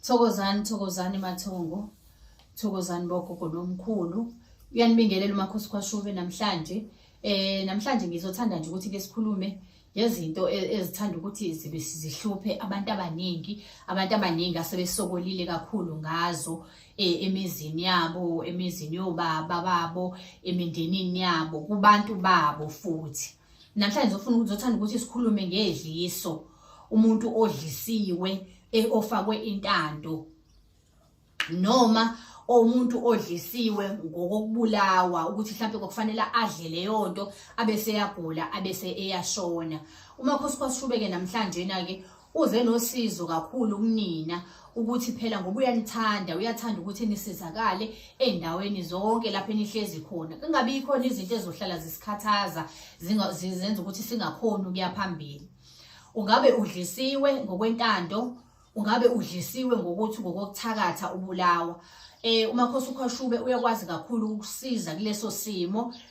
thokozani thokozani mathongo thokozani bogogo nomkhulu uyanibingelela umakhosi kwashube namhlanje eh namhlanje ngizothanda nje ukuthi ke sikhulume ngezinto e-, ezithanda ukuthi zibe sizihluphe abantu abaningi abantu abaningi asebesokolile kakhulu ngazo e, emizini yabo emizini yobaba babo emindenini yabo kubantu babo futhi namhlanje zofuna ukuthi zothanda ukuthi sikhulume ngedliso umuntu odlisiwe e-, ofakwe intando noma omuntu odlisiwe ngokokubulawa ukuthi mhlawumbe kwakufanele adle leyo nto abese eyagula abese eyashona umakhosi kwasishubeke namhlanje-na-ke Uze nosizo kakhulu kunina ukuthi phela ngoba uyanithanda uyathanda ukuthi nisizakale endaweni zonke lapho enihlezi khona kungabi khona izinto ezohlala zisikhathaza zenza ukuthi singakhoni ukuya phambili ungabe udlisiwe ngokwentando ungabe udlisiwe ngokuthi ngokokuthakatha ubulawa eh umakhosi ukhashube uyakwazi kakhulu ukusiza kuleso simo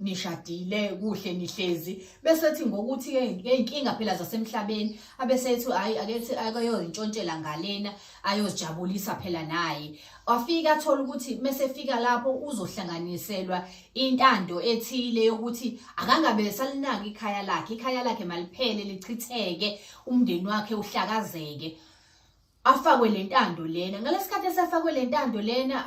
nishadile kuhle nihlezi bese ethi ngokuthi ngeyinkinga phela zasemhlabeni abese ethi hayi akethi akayozintshontshela ngalena ayozijabulisa phela naye wafika athola ukuthi mese fika lapho uzohlanganiselwa intando ethile yokuthi akangabe salinaka ikhaya lakhe ikhaya lakhe maliphele lichitheke umndeni wakhe uhlakazeke afakwe le ntando lena ngalesikhathi esafakwe le ntando lena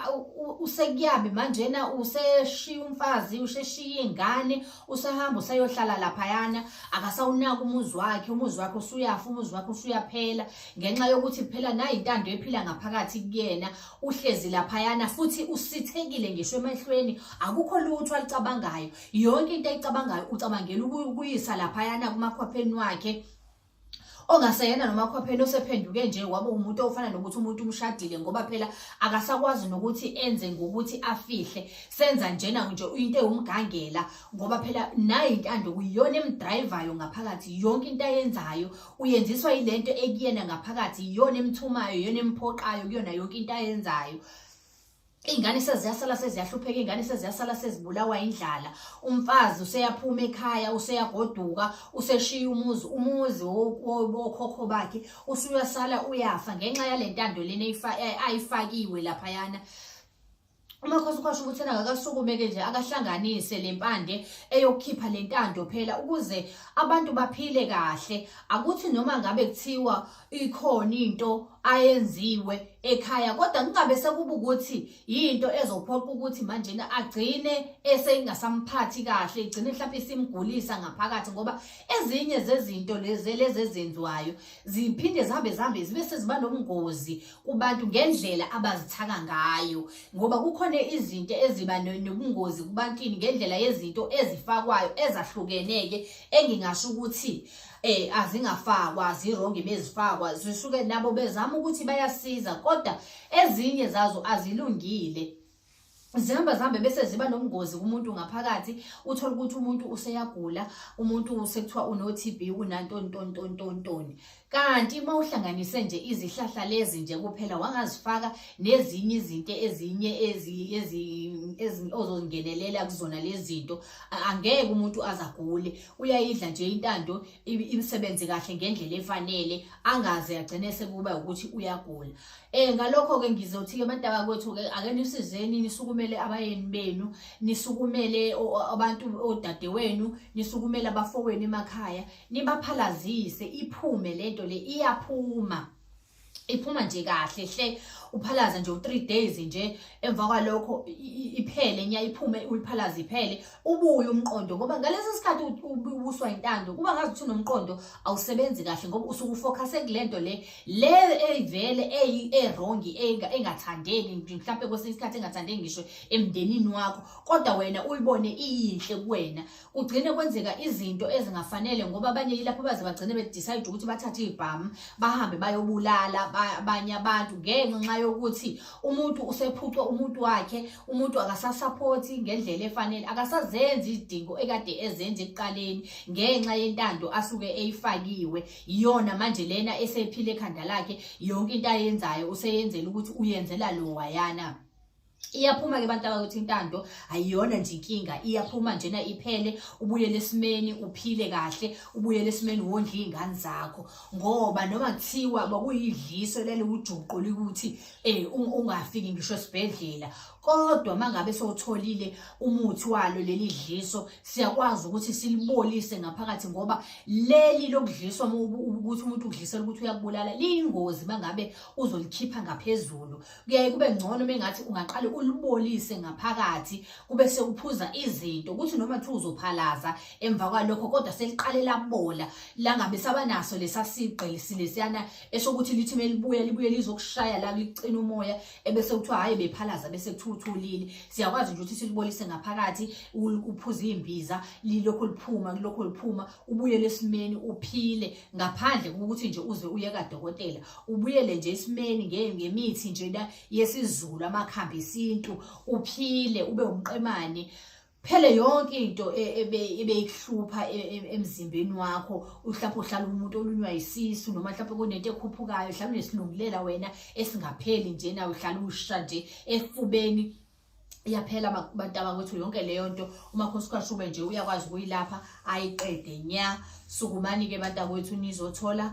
usekuyabe manjena useshiya umfazi usheshiya ingane usahamba usayohlala laphayana akasawunaka umuzi wakhe umuzi wakhe usuyafa umuzi wakhe usuyaphela ngenxa yokuthi phela nayi intando ephila ngaphakathi kuyena uhlezi laphayana futhi usithekile ngisho emehlweni akukho lutho alicabangayo yonke into ayicabangayo ucabangela ukuyisa laphayana kumakhwapheni wakhe ongaseyena nomakhopheni osephenduke nje waba umuntu ofana nokuthi umuntu umshadile ngoba phela akasakwazi nokuthi enze ngokuthi afihle senza njena nje into ewumgangela ngoba phela nayo intando kuyiyona emdrivayo ngaphakathi yonke into ayenzayo uyenziswa yilento ekuyena ngaphakathi iyona emthumayo iyona emphoqayo kuyona yonke into ayenzayo Iy'ngane seziyasala seziyahlupheka iy'ngane seziyasala sezibulawa indlala umfazi useyaphuma ekhaya useyagoduka useshiya umuzi umuzi wokhokho bakhe usuyasala uyafa ngenxa yale ntando lena ayifakiwe laphayana umakhosi ukhosha ukuthi ena akasukumeke nje akahlanganise le mpande eyokukhipha le ntando phela ukuze abantu baphile kahle akuthi noma ngabe kuthiwa ikhona into ayenziwe ekhaya kodwa kungabe sekuba ukuthi yinto ezophoqa ukuthi manje agcine esengasamphathi kahle igcine mhlawumbe isimgulisa ngaphakathi ngoba ezinye zezinto lezi lezi ezenziwayo ziphinde zihambe zihambe zibe seziba nobungozi kubantu ngendlela abazithaka ngayo ngoba kukhona izinto eziba nobungozi kubantwini ngendlela yezinto ezifakwayo ezahlukeneke engingasho ukuthi eh azingafakwa zirongi bezifakwa zisuke nabo bezama ukuthi bayasiza kodwa ezinye zazo azilungile zihamba zihambe bese ziba nobungozi kumuntu ngaphakathi uthole ukuthi umuntu useyagula umuntu sekuthiwa uno-tb unantontontontontoni kanti uma uhlanganise nje izihlahla lezi nje kuphela wangazifaka nezinye izinto ezinye ozongenelela kuzona lezi zinto angeke umuntu azagule uyayidla nje intando imisebenzi kahle ngendlela efanele angaze agcine sekuba ukuthi uyagula eh ngalokho ke ngizothi ke mantaba kwethu ke ake nisizeni nisukumele abayeni benu nisukumele abantu odade wenu nisukumele abafowenu emakhaya nibaphalazise iphume lento le iyaphuma iphuma nje kahle hle uphalaza nje u3 days nje emva kwalokho iphele nya iphume uliphalaza iphele ubuye umqondo ngoba ngalesi sikhathi ubuswa intando kuba ngazi ukuthi unomqondo awusebenzi kahle ngoba usuku focus kulento le le evele eyi erong engathandeki mhlawumbe kwesinye isikhathi engathandeki ngisho emndenini wakho kodwa wena uyibone iyinhle kuwena kugcine kwenzeka izinto ezingafanele ngoba abanye yilapho baze bagcine bedecide ukuthi bathathe ibhamu bahambe bayobulala abanye abantu ngenxa yokuthi umuntu usephucwe umuntu wakhe umuntu akasasaphothi ngendlela efanele akasazenzi izidingo ekade ezenza ekuqaleni ngenxa yentando asuke eyifakiwe iyona manje lena esephile ekhanda lakhe yonke into ayenzayo useyenzela ukuthi uyenzela lo wayana iyaphuma ke abantu abakuthi intando ayiyona nje inkinga iyaphuma njena iphele ubuyele esimeni uphile kahle ubuyele esimeni wondla iy'ngane zakho ngoba noma kuthiwa kwakuyidliso lele ujuqu likuthi um ungafiki ngisho esibhedlela kodwa mangabe sowutholile umuthi walo leli dliso siyakwazi ukuthi silibolise ngaphakathi ngoba leli lokudliswa ukuthi umuntu udlisela ukuthi uyakubulala liyingozi mangabe uzolikhipha ngaphezulu kuyaye kube ngcono mengathi ungaqale ulibolise ngaphakathi kube sewuphuza izinto ukuthi noma kuthiwa uzophalaza emva kwalokho kodwa seliqale labola langabe sabanaso lesa sigqilisi lesiyana esokuthi lithi melibuya libuye lizokushaya la licina umoya ebese kuthiwa hhayi bephalaza bese kuthiwa uthulile siyakwazi nje ukuthi silibolise ngaphakathi uphuze iy'mbiza lilokhu liphuma kulokhu liphuma ubuyele esimeni uphile ngaphandle kokuthi nje uze uye kadokotela ubuyele nje esimeni ngemithi nje yesizulu amakhambi esintu uphile ube umqemane phele yonke into e, ebeyikuhlupha e, e, emzimbeni wakho uhlapha uhlala umuntu olunywa isisu noma hlapha kunento ekhuphukayo hlala unesilungulela wena esingapheli nje nawe uhlala usha nje efubeni iyaphela abantu abakwethu yonke leyo nto umakhosi kashube nje uyakwazi ukuyilapha ayiqede nya sukumani-ke abantu akwethu nizothola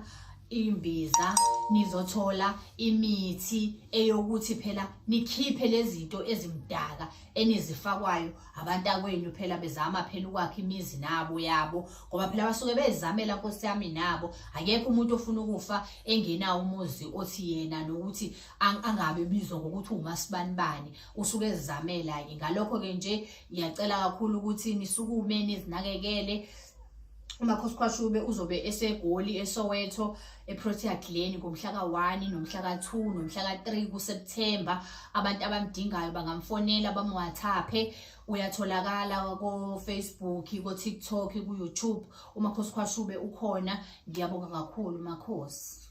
imbiza nizothola imithi eyokuthi phela nikhiphe lezinto ezimdaka enizifakwayo abantu akwenu phela bezama phela ukwakhe imizi nabo yabo ngoba phela basuke bezamela nkosi yami nabo akekho umuntu ofuna ukufa engenawo umuzi othi yena nokuthi angabe bizwa ngokuthi umasibanibani usuke ezizamela ke ngalokho ke nje ngiyacela kakhulu ukuthi nisukume nizinakekele umakhosi khwashube uzobe esegoli esowetho eprotea glen ngomhla ka-1 nomhla ka-2 nomhla ka-3 kuseptemba abantu abamdingayo bangamfonela bamwathaphe uyatholakala kofacebook kotiktok kuyoutube umakhosi khwashube ukhona ngiyabonga kakhulu makhosi